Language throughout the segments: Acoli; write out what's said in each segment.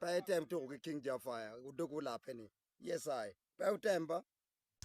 Pe item tuko ki King Jafaya, odok olape ni, Yes I. Pe wutem ba.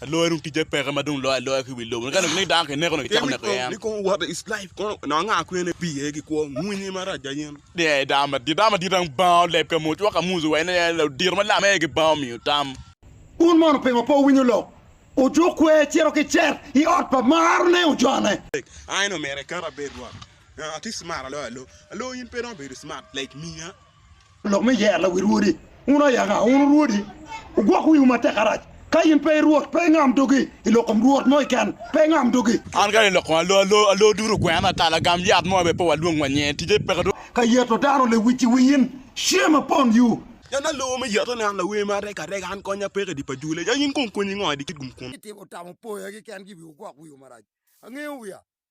Aloya dong ticce peke ma dong loyo aloya ki wi lobo. Ka nongo ni dano kineko dong kicako neko yen. Nikom what is life kono nongo anga kwene ipii aye ki kwo mwinyi marac aye in. Ni aye dano madit, dano madit dong banga oleb ka moc woko ka Musa owaco ni en odiro malam aye ki banga omiyo tam. Un mono pingo pe wuwinyo lok? Ojuk kwer cito ki cet i ot pa marne ojone. Tek, I nongo myero ikat abed rwot. Atye smart aloyo alo. Alo in pe romo bedo smart like me a. Lok me yer la wi rwodi. Wun ayaka, wun orwodi, wugwok wiwu matek arac. Ka in pe i Rwot, pe ingam dogi i lok kom rwot mo keken, pe ingam dogi. An kadi lok kom alo alo, alo duto ogwena, kala agam yat mo aye pe walwong wa nyinge, tije peke dong. Ka yeto dano lewic i wi in, shame upon you! Yan alo me yeto ne an lawer ma arega arega, an konya peke i di pa dule, ya in kong konyi ngo i di kit gum kwon? Itimo tamo poya keken-gi i wiwu, gwok wiwu marac. Angeyo wiya.